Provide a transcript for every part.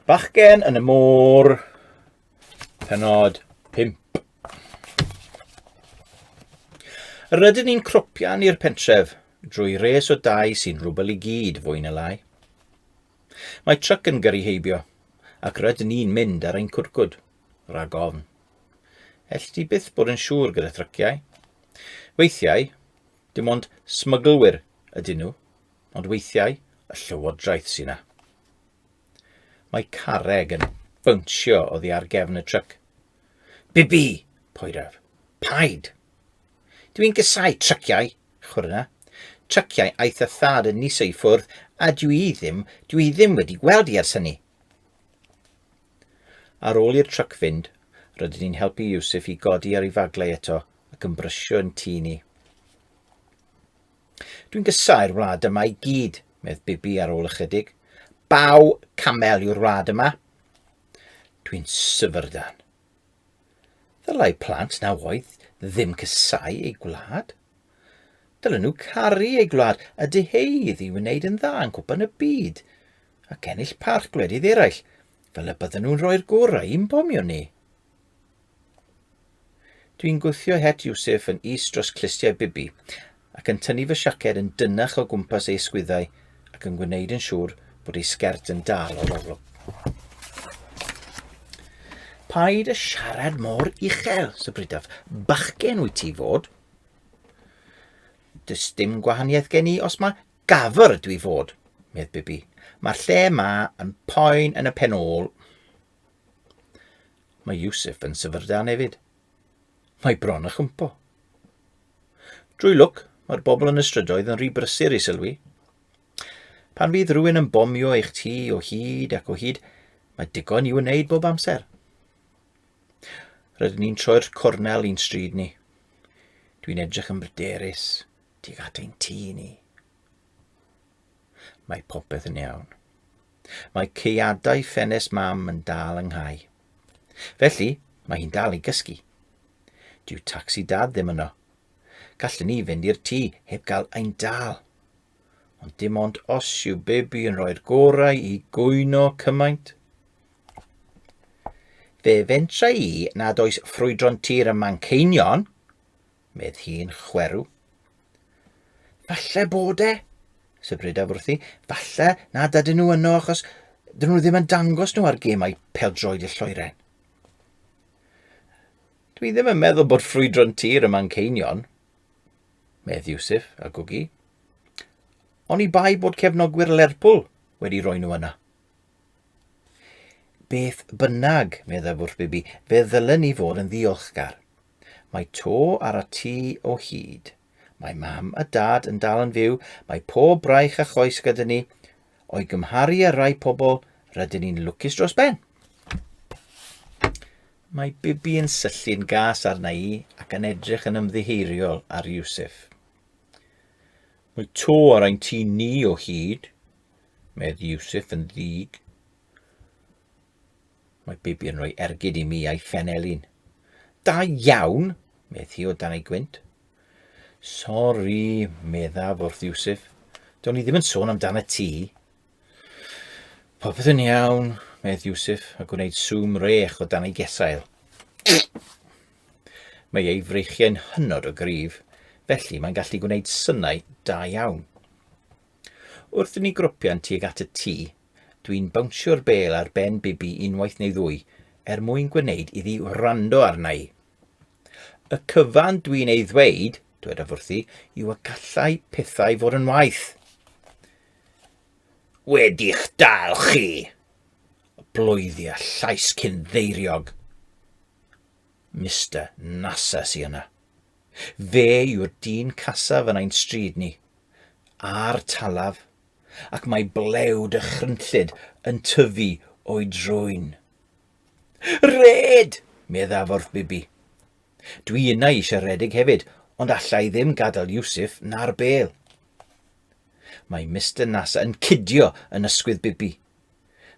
Bachgen yn y môr, penod 5. Rydyn ni'n cropian i'r pentref drwy res o dau sy'n rhwbel i gyd fwy na lai. Mae tryc yn gyrru heibio ac rydyn ni'n mynd ar ein cwrcwd. Rhag ofn. Elli di byth bod yn siŵr gyda thryciau. Weithiau, dim ond smyglwyr ydyn nhw, ond weithiau y llywodraeth sy'n na. Mae carreg yn bwnsio oddi ar gefn y tryc. Bibi! Poeraf. Paid! Dw i'n gysau tryciau, chwrna. Tryciau aeth y thad yn niso i ffwrdd, a dw i ddim, dw i ddim wedi gweld i ers hynny. Ar ôl i'r truc fynd, rydyn ni'n helpu Yusuf i godi ar ei faglau eto ac yn brysio yn tŷ ni. Dwi'n gysau'r wlad yma i gyd, medd Bibi ar ôl ychydig. Baw camel yw'r wlad yma. Dwi'n syfrdan. Ddylai plant na oedd ddim cysau ei gwlad. Dylen nhw caru ei gwlad a dyheudd i wneud yn dda yn cwpan y byd ac ennill parch gwledydd eraill, fel y bydden nhw'n rhoi'r gorau i'n bomio ni. Dwi'n gwthio het Yusuf yn is dros clustiau Bibi, ac yn tynnu fy siaced yn dynach o gwmpas ei ysgwyddau ac yn gwneud yn siŵr bod ei sgert yn dal o loflwg. Paid a siarad mor uchel, sybrydaf. Bachgen wyt ti fod. Does dim gwahaniaeth gen i os mae gafr ydw i fod, medd Bibi. Mae'r lle yma yn poen yn y pen ôl. Mae Yusuf yn syfrdan hefyd. Mae bron â chwmpo. Drwy lwc, mae'r bobl yn y strydoedd yn rhy brysur i sylwi. Pan fydd rhywun yn bomio eich tŷ o hyd ac o hyd, mae digon i wneud bob amser. Rydyn ni'n troi'r cornel i'n stryd ni. Dwi'n edrych yn bryderus tuag at ein tŷ ni. Mae popeth yn iawn. Mae ceiadau ffenest mam yn dal yng nghau. Felly, mae hi'n dal i gysgu. Dyw tacsi dad ddim yno. Gallwn ni fynd i'r tŷ heb gael ein dal. Ond dim ond os yw bebi yn rhoi'r gorau i gwyno cymaint. Fe fentra i nad oes ffrwydron tir ym Manceinion, medd hi'n chwerw. Falle bod e, sybrydaf wrthi, falle na dydyn nhw yno achos dyn nhw ddim yn dangos nhw ar gemau peldroed y lloeren. Dwi ddim yn meddwl bod ffrwydron tir yma'n ceinion, medd Iwsif a gwgi. Oni bai bod cefnogwyr Lerpwl wedi roi nhw yna. Beth bynnag, meddaf wrth Bibi, fe ddylen ni fod yn ddiolchgar. Mae to ar y tu o hyd. Mae mam a dad yn dal yn fyw, mae pob braich a choes gyda ni. O'i gymharu â rai pobl, rydyn ni'n lwcus dros ben. Mae Bibi yn syllu'n gas arna i ac yn edrych yn ymddiheiriol ar Yusuf. Mae to ar ein tu ni o hyd, medd Yusuf yn ddig. Mae Bibi yn rhoi ergyd i mi a'i phen elin. Da iawn, medd hi o dan ei gwynt. Sori, meddaf wrth Iwsif. Do'n i ddim yn sôn amdan y ti. Popeth yn iawn, medd Iwsif, a gwneud swm rech o dan ei gesail. Mae ei freichiau'n hynod o gryf, felly mae'n gallu gwneud synau da iawn. Wrth i ni gropian tuag at y tŷ, Dwi'n bownsio'r bêl ar ben Bibi unwaith neu ddwy, er mwyn gwneud iddi wrando arna i. Y cyfan dwi'n ei ddweud, dwedaf wrthi, yw y gallai pethau fod yn waith. Wedi'ch dal chi! Bloeddi a llais cyn ddeiriog. Mister Nasa sy yna. Fe yw'r dyn casaf yn ein stryd ni. A'r talaf, ac mae blew dychrynllyd yn tyfu o'i drwyn. Red! meddaf wrth Bibi. Dwi yna i siaredig hefyd, ond allai ddim gadael Yusuf na'r bel. Mae Mr Nasa yn cydio yn ysgwydd Bibi.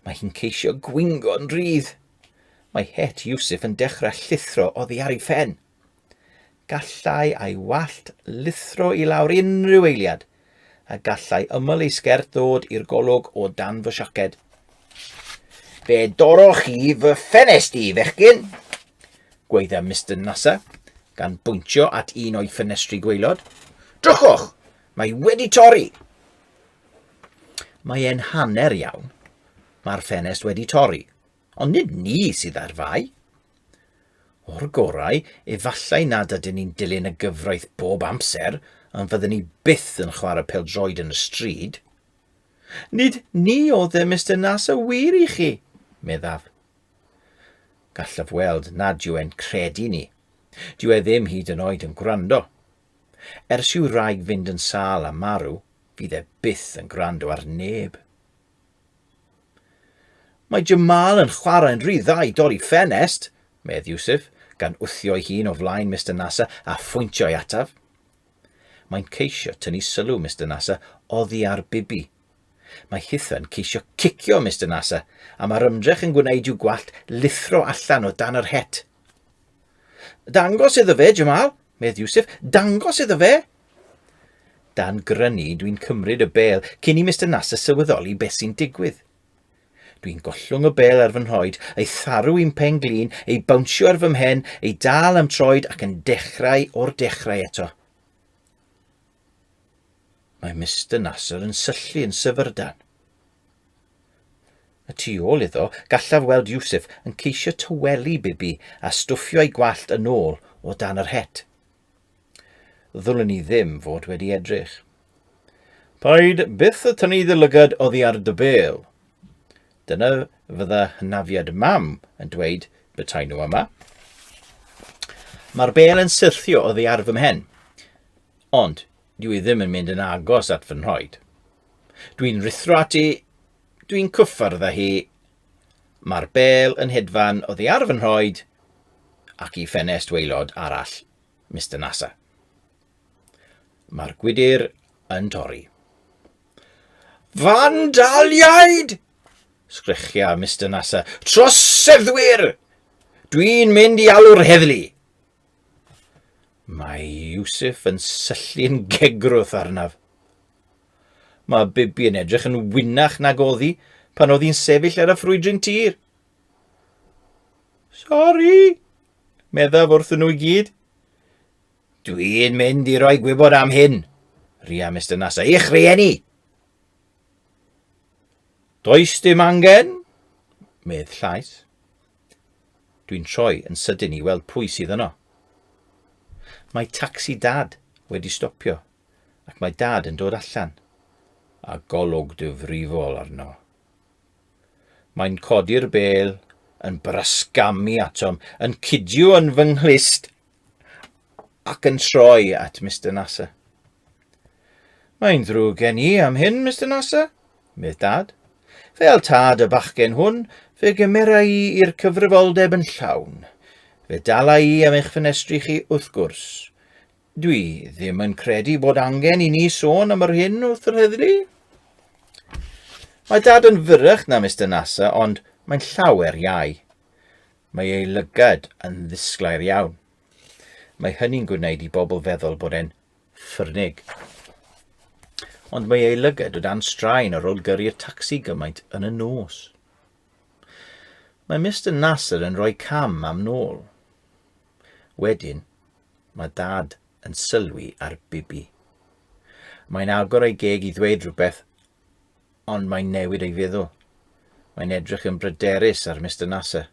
Mae hi'n ceisio gwingo'n rydd. Mae het Yusuf yn dechrau llithro oddi ar ei phen. Gallai ei wallt lithro i lawr unrhyw eiliad, a gallai ymyl ei sgert ddod i'r golwg o dan fy siaced. Fe dorroch chi fy ffenest i, fechgyn, gweidda Mr Nasa, gan bwyntio at un o'i ffenestri gweilod. Drychwch! Mae wedi torri! Mae e'n hanner iawn. Mae'r ffenest wedi torri, ond nid ni sydd ar fai. O'r gorau, efallai nad ydyn ni'n dilyn y gyfraith bob amser, ond fydden ni byth yn chwarae peldroed yn y stryd. Nid ni oedd e, Mr Nas, y wir i chi, meddaf. Gallaf weld nad yw e'n credu ni. Dyw e ddim hyd yn oed yn gwrando. Ers i'w raig fynd yn sâl a marw, fydd e byth yn gwrando ar neb. Mae Jamal yn chwarae'n rhy dda i dorri ffenest, medd Yusuf, gan wthio'i hun o flaen Mister Nasser a phwyntio ei ataf. Mae'n ceisio tynnu sylw Mister Nasser oddi ar Bibi. Mae Hitha'n ceisio cicio Mister Nasser, a mae'r ymdrech yn gwneud i'w gwallt lithro allan o dan yr het. Dangos iddo fe, Jamal, medd Yusuf, dangos iddo fe! Dan grynu, dwi'n cymryd y bel cyn i Mister Nasser sylweddoli beth sy'n digwydd. Dwi'n gollwng y bel ar fy nhroed, ei tharu i'n pen glin, ei bawnsio ar fy mhen, ei dal am troed ac yn dechrau o'r dechrau eto. Mae Mister Nasser yn syllu yn syfyrdan. Y tu ôl iddo, gallaf weld Yusuf yn ceisio tywelu Bibi a stwffio ei gwallt yn ôl o dan yr het. Ddwlen ni ddim fod wedi edrych. Paid byth y tynnu dy lygad oddi ar dy bêl. Dyna fydda hynafiad mam yn dweud betaen nhw yma. Mae'r bêl yn syrthio oddi ar fy mhen, ond dwi i ddim yn mynd yn agos at fy nhroed. Dwi'n rithro ati, dwi'n cyffyrdd â hi. Mae'r bêl yn hedfan oddi ar fy nhroed ac i ffenest weilod arall Mister Nasa. Mae'r gwydr yn torri. Fandaliaid! Sgrechia Mister Nasa. Troseddwyr! Dwi'n mynd i alw'r heddlu! Mae Yusuf yn syllu'n gegrwth arnaf. Mae Bibi yn edrych yn wynach nag oddi pan oedd hi'n sefyll ar y ffrwydryn tir. Sori, Meddaf wrthyn nhw i gyd. Dwi'n mynd i roi gwybod am hyn. Ria Mr Nasa i'ch rhieni. Does dim angen, medd llais. Dwi'n troi yn sydyn i weld pwy sydd yno. Mae tacsi dad wedi stopio ac mae dad yn dod allan a golwg dyfrifol arno. Mae'n codi'r bel, yn brasgamu atom, yn cydio yn fy nghlust ac yn troi at Mr Nasser. Mae'n ddrwg gen i am hyn, Mr Nasser, medd dad. Fel tad y bachgen hwn, fe gymera i i'r cyfrifoldeb yn llawn. Fe dala i am eich ffenestri chi, wrth gwrs. Dwi ddim yn credu bod angen i ni sôn am yr hyn wrth yr heddlu. Mae dad yn fyrrach na Mr Nasa, ond mae'n llawer iau. Mae ei lygad yn ddisglair iawn. Mae hynny'n gwneud i bobl feddwl bod e'n ffyrnig. Ond mae ei lygad o dan straen ar ôl gyrru'r tacsi gymaint yn y nos. Mae Mr Nasser yn rhoi cam am nôl. Wedyn, mae dad yn sylwi ar Bibi. Mae'n agor ei geg i ddweud rhywbeth, ond mae'n newid ei feddwl. Mae'n edrych yn bryderus ar Mr Nasser.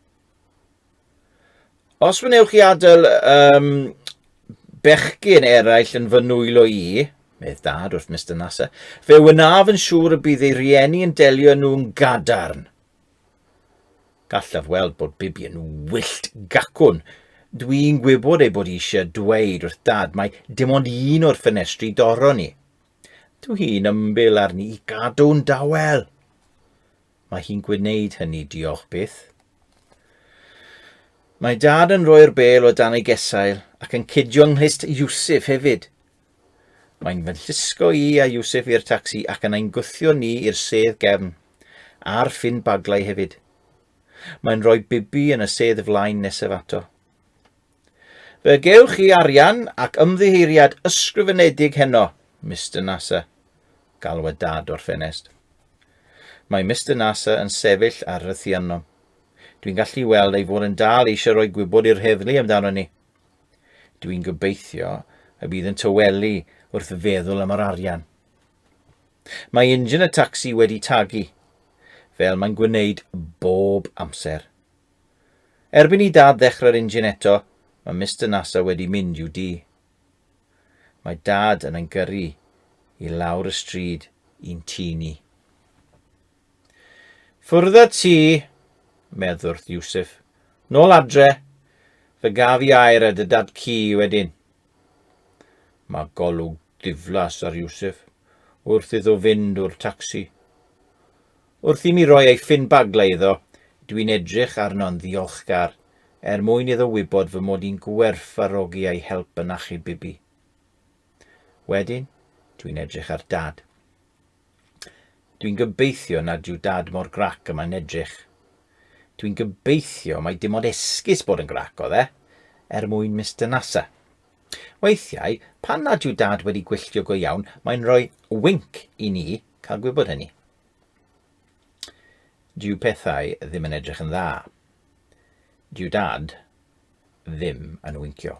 Os wnewch chi adael um, bechgyn eraill yn fy nwylo i, medd dad wrth Mr Nasser, fe wynaf yn siŵr y bydd ei rieni yn delio nhw'n gadarn. Gallaf weld bod Bibi yn wyllt gacwn. Dwi'n gwybod ei bod eisiau dweud wrth dad mae dim ond un o'r ffenestri doron ni. Dwi'n ymbil arni i gadw'n dawel. Mae hi'n gwneud hynny, diolch byth. Mae dad yn rhoi'r bel o dan ei gesail ac yn cidio ynghlust Yusuf hefyd. Mae'n fy llusgo i a Iwsif i'r tacsi ac yna'n gwthio ni i'r sedd gefn, a'r ffin baglau hefyd. Mae'n rhoi Bibi yn y sedd flaen nesaf ato. Fe gewch chi arian ac ymddiheuriad ysgrifenedig heno, Mister Nasa, galwad Dad o'r ffenest. Mae Mister Nasa yn sefyll ar y thianom. Dwi'n gallu weld ei fod yn dal eisiau rhoi gwybod i'r heddlu amdano ni. Dwi'n gobeithio y bydd yn tywelu wrth feddwl am yr arian. Mae injan y tacsi wedi tagu, fel mae'n gwneud bob amser. Erbyn i dad ddechrau'r injan eto, mae Mr Nasa wedi mynd i'w di. Mae dad yn yngyrru i lawr y stryd i'n tŷ ni. Ffwrdd â ti, medd wrth Yusuf. Nôl adre, fe gaf i air a dy dad ci wedyn. Mae golwg diflas ar Yusuf wrth iddo fynd o'r tacsi. Wrth i mi roi ei ffyn baglau iddo, dwi'n edrych arno'n ddiolchgar er mwyn iddo wybod fy mod i'n gwerthfarogi ei help yn achub Bibi. Wedyn, dwi'n edrych ar Dad. Dwi'n gobeithio nad yw Dad mor grac y mae'n edrych. Dwi'n gobeithio mai dim ond esgus bod yn grac oedd e, er mwyn Mister Nasa. Weithiau, pan nad yw Dad wedi gwylltio go iawn, mae'n rhoi winc i ni cael gwybod hynny. Dyw pethau ddim yn edrych yn dda. Dyw Dad ddim yn wincio.